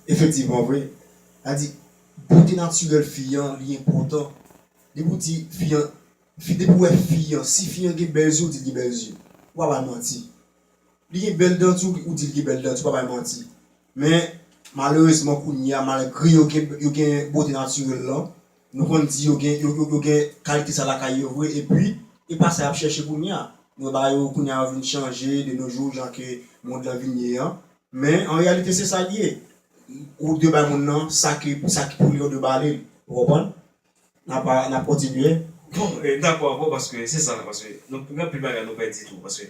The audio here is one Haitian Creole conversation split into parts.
Efektivman vre, sa di bote natirèl fi an li enpòtan. Depi ou di fi an, depi ou wè fi an, si fi an gen bèl zye ou di l gen bèl zye, ou pa bay manti. Li gen bèl dan tou ou di l gen bèl dan tou, ou pa bay manti. Men malerezman kounye a malgre yo gen bote natirèl lan, Nou konn di yo gen yo gen kalite sa lakay yo vre epi. E pa sa yap chèche kounye a. Nou wè bagay yo kounye a yo vin chanje de no jou jan ke mond lan vin ye an. Men an reyalite se sa li ye. Ou dwe bay moun nan sa ke sa ki pou li an ou dwe ba li l. Ou konprann? Nap a nap kontinye. Bon, e dakò avè w paske se sa paske nou pou gen anpil bagay nou pèdi tou paske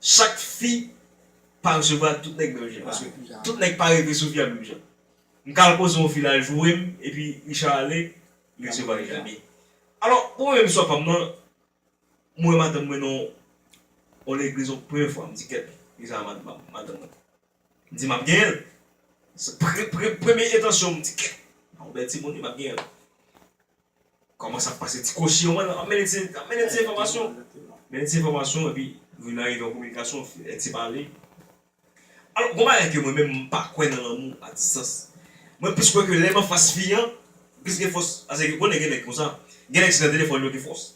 Chak fi pa resevwa tout nèg menm jan paske tout nèg pa reve sou Via menm jan. M ka al poze yon fi lal joure m epi Richard ale li resevwa Richard byen. Alò pou mwen menm istwa pa m nan m wè madanm mwen nan yon legliz yon premye fwa m di kèt li sa madanm mwen. M di map genyen l se premye entansyon m di kèt yon bèl timoun wi map genyen l. Koman sa pase ti kochi yo menm ap mennen ti ap mennen ti enfòmasyon mennen ti enfòmasyon epi vin arive yon kominikasyon yon ti pale alò gon bagay ke mwen menm m pa kwè nan lanmou a distans mwen plis kwè ke lè m anfas fi an m plis gen fòs pase ou konnen gen nèg konsa gen nèg se nan telefòn yo gen fòs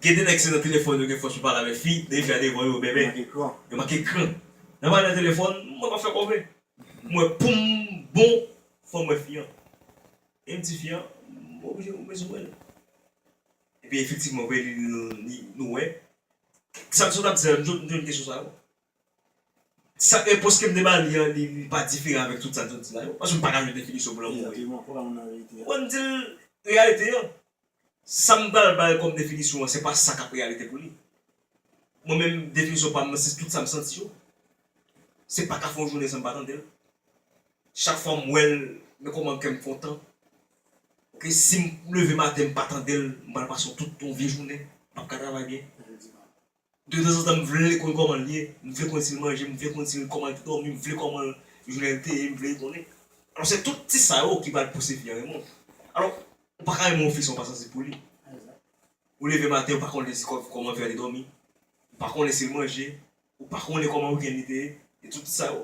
gen de nèg se nan telefòn yo gen fòs pou pale avèk fi de fi a devan yo bèbè yo manke kran lè mwen ale nan telefòn mwen pa fè kòve m wè poum bon fòm wè fi an. Menm tifi an m oblije m bezwen l. Epi efektivman ou vin li nou wè. Sa w tap di an nou jwenn kesyon sa yo. Sa repons ke m te ba li an li pa diferan avèk tout sa l sot di la yo. Paske m paka jwenn definisyon pou lanmou. Ou konprann reyalite an. Sa m pral bay kòm definisyon an se pa sa k ap reyalite pou li. Mwen menm definisyon pa m nan se tout sa m santi yo. Se pa ka fè yon jounen san m pa tande l. Chak fwa m wè l men kòman kè m kontan. Ok si m leve maten m pa tande l m pral pase yon tout yon vye jounen m p ap ka travay byen. De tanzantan m vle konn kòman l ye, m vle konn si l manje, m vle konn si l kòman l te dòmi, m vle kòman jounen l te ye, m vle konnen. Alò se tout ti sa yo ki pral pouse fi an renmen w. Alò, ou pa ka renmen yon fi san w pa sansib pou li. Ou leve maten ou pa konnen si kòman fi a te dòmi, ou pa konnen si l manje, ou pa konnen kòman wikenn li te ye, e tout ti sa yo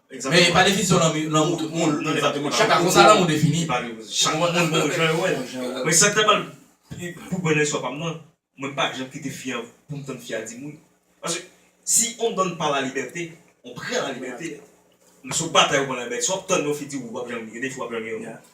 Men e pa definisyon lanmou tout moun. Chak a konsa lanmou defini. Chak moun bon jan yo wè l. Mwen sak ta pral pou bèl lenswa pa m nan, mwen pa janm kite fi an pou m tann fi a di m wi. Paske si on donne pas la liberté, on prend la liberté. Sou batay ou pran la liberté. Si w ap tann yon fi di w wi w pap janm gen defi w ap janm gen non.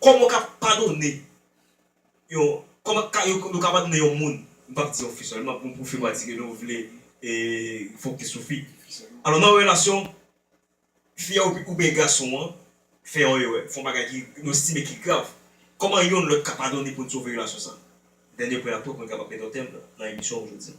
Kòman w ka padone yon kòman ka yo ka padone yon moun, m pap di yon fi sèlman pou pou fi pa di ke nou vle e fokis sou fi. Alò nan yon relasyon fi a oubyen gason an fè yon erè, fè yon bagay ki nou estime ki grav, kòman yonn lòt ka padone pou n sove relasyon sa? Dènye pwen a tou pou n kapab mete yon tèm nan emisyon jodi a.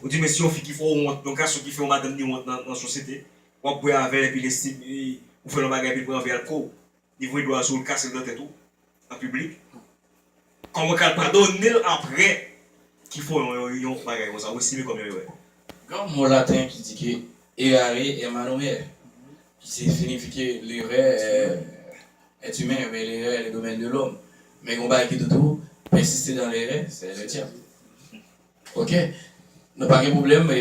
Ou di men si yon fi ki fè w wont, yon gason ki fè yon madanm ni wont nan sosyete, w ap bwè avè l epi l estime ou fè l yon bagay epi l pran vè a l kò w, li voye dlo a sou w l kase l nan tèt ou an piblik, kòman w ka al padone l aprè ki fè w yon bagay konsa ou estime kòm yon erè? Gen yon mo laten ki di ke errare è manumè, ki se sinifi ke lerè è timè ou byen lerè è le domèn de lòm, men gen yon bagay ki di tou, pèsiste dan lerè sè lè dyab. Ok Nou pa gen problem e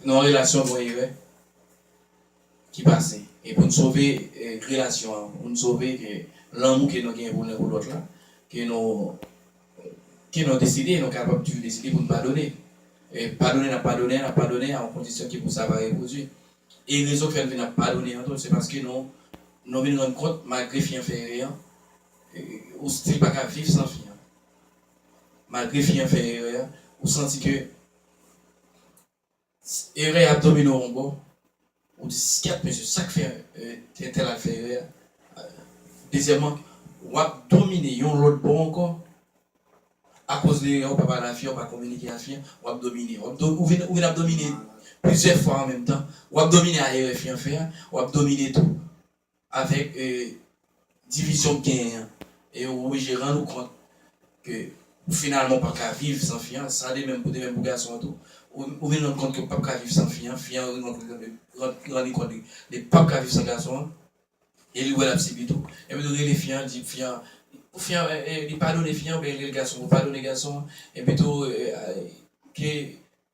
nan yon relasyon gon erè ki pase e poun sove relasyon an poun sove ke lanmou ke nou gen pou len pou lot la ke nou ke nou deside nou kapab toujou deside poun padone e padone nap padone an nap padone a yon kondisyon ke pou sa pa repwodui e rezon ki fè nou vin ap padone an tou se paske nou nou vin rann kont malgre fi an fè erè an ou stil paka viv san fi an. malgre fi an fè erè a ou santi ke erè a ap domine w yon bò ou di skyèt mesye sak fè entèl al fè erè a dezyèman wap domine yon lòt bò ankò akoz de erè ou pa pale a fi an ou pa kominike a fi an wap domine ou vin ap domine plizyè fwa an menm tan wap domine a erè fi an fè a wap domine tou Avèk divizyon k genyen an, e ou oblije rann ou kont ke ou finalman ou pap ka viv san fi an, sa de menm pou de menm pou gason an tou. Ou vin rann kont ke ou pap ka viv san fi an, fi an vin rann kont li rann li kont li li pap ka viv san gason an, e li wè lap sibi tou. Epi tou rele fi an, di fi an, pou fi an li padone fi an oubyen li rele gason pou padone gason an, epi tou ke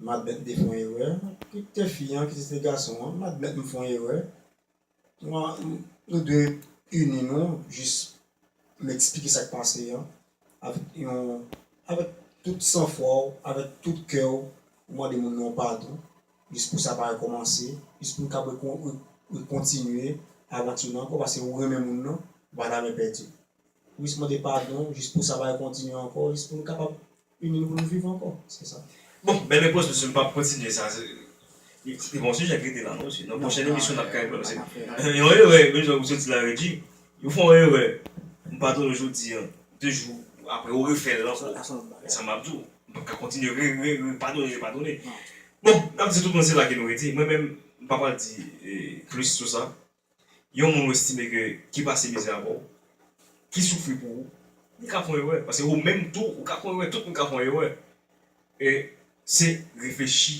m admèt m te fè yon erè, kit te fi an, kit se te gason an, m admèt m fè yon erè, nou dwe ini nou, jis m eksplike sa k pase an, avèk yon, avèk tout san fwa w, avèk tout kè w, ou mande moun nan yon padon, jis pou sa pa rekòmanse, jis pou n kapab rekontinye avanti nou ankò, paske ou renmen moun nan, ou pa ta renmen pèdi l. Jis mande padon, jis pou sa pa rekontinye ankò, jis pou nou kapab ini nou pou nou viv ankò. Se sa. Bon, bèl repons mesye, m pap kontinye sa. Li bon sijè k rete la non mesye. Nan pwochèn emisyon n ap ka enplwa mesye. Yon erè, menm jan ou soti la Regi, ou fè yon erè, m padone w jodi an, 2 jou aprè ou refè l ankò. Se sa m ap di w. M pap ka kontinye re, re, re padone, re padone. Bon, n ap di tout moun se la ke nou rete. Mwen menm, m pa pral di plis sou sa. Yon moun ou estime ke ki pase mizè avè w, ki soufri pou ou, li ka fon erè. Pase ou menm tou, ou ka fon erè. Tout moun ka fon erè. E se reflechi,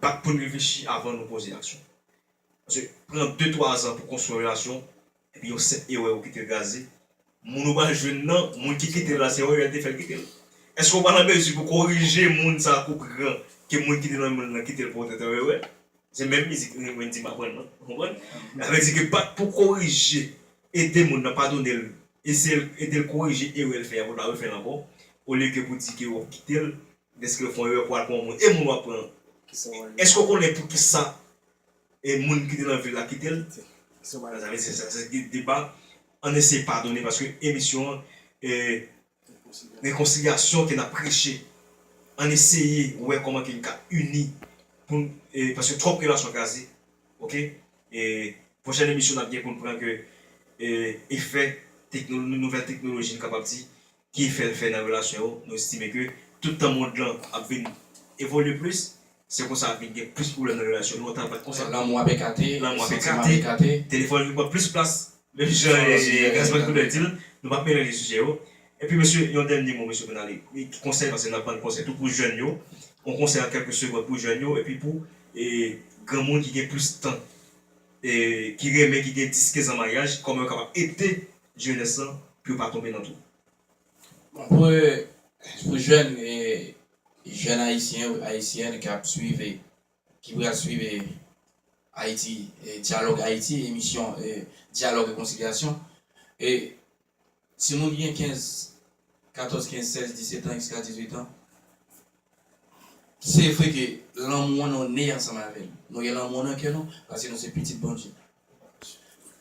bat pou n reflechi avan nou poze aksyon. Pase pran de twa zan pou konstwi yon relasyon, epi yon senp erè ou kite l gaze, Moun ou pral jwenn nan, moun ki kite l la se Oriol te fè l kite l? Eske ou pa nan mezi pou korije moun sa kou pran ke moun ki te nan men l lan kite l pou tenten wewe? Se menm mizik Wendy m aprann lan, ou konprann? Sa vle di ke pat pou korije, ede moun nan, padone l, eseye l, ede l korije erè l fè a pou l pa refè l ankò, olye ke pou di ke wap kite l dèske l fon erè pou al pran yon moun. E moun wap pran an? Eske ou konnen poukisa e moun ki te nan vil la kite l se wala sa vle di sa se te deba ann eseye padone paske emisyon an e rekonsilyasyon ke nap preche ann eseye wè kòman ke n ka ini pou n e paske twòp relasyon kraze ok e pwochèn emisyon nap gen pou n pran ke e efè tekno nouvèl teknoloji n kapab di Ki efè l fè nan relasyon yo? Nou estime ke tout tan mond lan ap vin evolye plis, se konsa ap vin gen plis pwoblèm nan relasyon. Lontan l pa t konsa. Lanmou ap ekate. Lanmou ap ekate. Telefòn vin pran plis plas. Menm jan Gaspard Trudel di l, nou pa p melanje sijè yo. Epi mesye, yon dènye mo mesye pou n ale. Ki konsèy, paske n ap ban konsèy tou pou jèn yo, yon konsèy an kèlke segond pou jèn yo epi pou granmoun ki gen plis tan ki renmen ki gen 10 15 an maryaj kòman yo kapab ede jenès lan pou yo pa tonbe nan twou. Bon pou jèn jèn ayisyen ou ayisyèn ki ap swiv ki pral swiv ayiti dyalòg ayiti emisyon dyalòg rekonsilyasyon Si moun ki gen 15, 14, 15, 16, 17 ans jiska 18 ans, se vre ke lanmou an nou ne ansanm avè li. Nou gen lanmou an nan kè nou paske nou se pitit Bondye.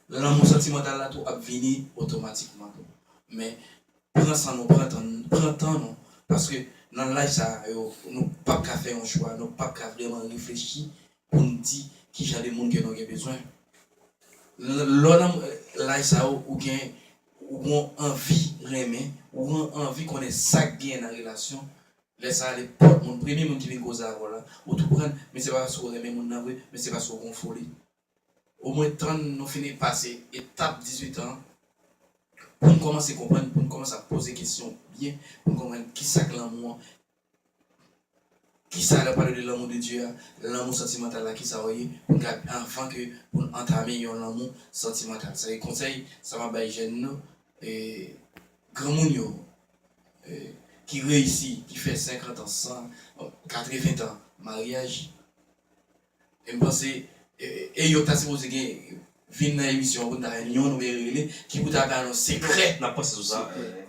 Lanmou santimantal la tou ap vini otomatikman tou. Men, pran san nou, pran tan nou, pran tan nou paske nan laj sa yo nou pap ka fè yon chwa, nou pap ka vreman reflechi pou n di ki jan de moun ke nou gen bezwen. Lè w nan laj sa yo, ou gen ou gen yon anvi renmen, ou gen yon anvi konnen sa k genyen nan relasyon, lè sa a lè pòt moun, premye moun ki vin koze avè w la, ou tou pran l, men se pa paske ou renmen moun nan vre, men se paske ou gen yon foli. Omwen tann nou fin pase etap 18 tan an pou n kòmanse konprann, pou n kòmanse ap poze kesyon byen, pou n konprann ki sa k lanmou an, Kisa lèw pale de lanmou de Dye a, lanmou santimantal la kisa ou ye pou n ka anvan ke pou n antame yon lanmou santimantal. Sa se konsèy sa map bay jèn nou e granmoun yo e ki reyisi ki fè 50 ans 100 bon 80 tan maryaj. E m panse e yo ta sipoze gen vin nan emisyon pou n ta jwenn youn oubyen rele ki pou ta ba nou sekrè N ap panse sou sa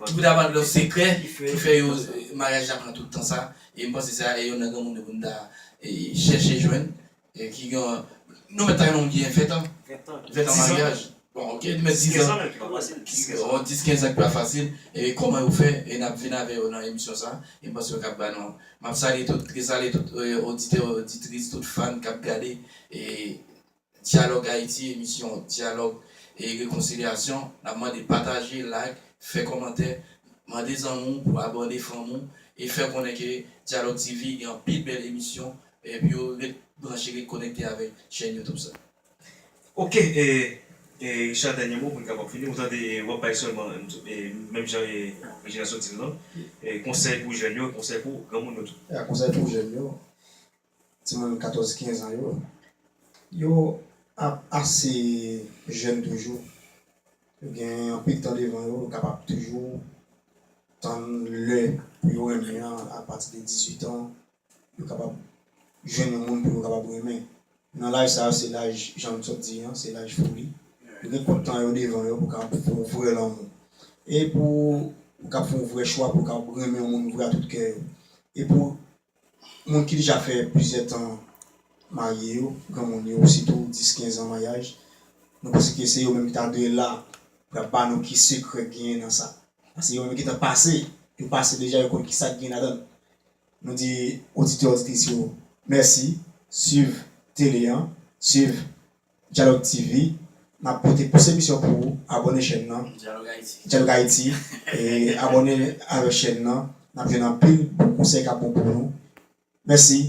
ki pou ta ba nou sekrè ki fè yo maryaj la pran tout tan sa e m panse sa e youn nan granmoun yo pou n ta chèche jwenn ki gen nou mèt ta gen yon moun ki gen 20 tan 20 tan maryaj. Bon ok demen 6 ans bon 10 15 ans ki pa fasil e koman yo fè e nap vin avè yo nan emisyon sa e mpanse yo kap ba nou an map salye tout e salye tout oditè oditris tout fan kap gade e dyalòg ayiti emisyon dyalòg e rekonsilyasyon nap mande pataje like fè kòmantè mande zanmi w pou abòne fanmi w e fè konnen ke dyalòg tv gen anpil bèl emisyon e pou yo ret branche ret konekte avèk chèn youtube sa. Ok Richard dènye mo poun kapab fini ou tande wap bay sèlman menm jan Regina sot dil lan konsèy pou jèn yo konsèy pou granmoun yo tou. Ya konsèy pou jèn yo timoun 14 15 an yo yo ap ase jèn toujou yo gen anpil tan devan yo yo kapab toujou tann lè pou yo renmen an apati de 18 ans yo kapab jwenn yon moun pou yo kapab renmen. Nan laj sa yo se laj jan nou t sot di an, se laj foli. Yo gen twòp tan yo devan yo pou kapab fè yon vrè lanmou. E pou yo kapab fè yon vrè chwa pou yo kapab renmen yon moun vre a tout kè yo. E pou moun ki deja fè plizyè tan marye yo, granmoun yo sitou 10, 15 an maryaj, nou panse ke se yo menm ki ta dwe la pou y ap ba nou ki sekrè k genyen nan sa. Paske yo menm yo gentan pase, yo pase deja yo konn ki sa k genyen ladan l. Nou di oditè oditris yo mèsi swiv tele an swiv Dyalòg TV nap pote plis emisyon pou ou abòne chèn nan Dyalòg Ayiti abòne avèk chèn nan nap jwenn anpil bon konsèy kap bon pou nou mèsi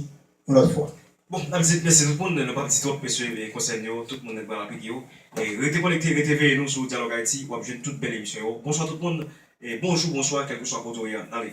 yon lòt fwa. Bon nap di mesi tout moun nou pap di twop mesye e konsèy nou yo tout moun pral aplike yo rete konekte rete veye nou sou dyalòg ayiti wap jwenn tout bèl emisyon yo bonswa tout moun bonjou bonswa kelkeswa kote ou ye an ale.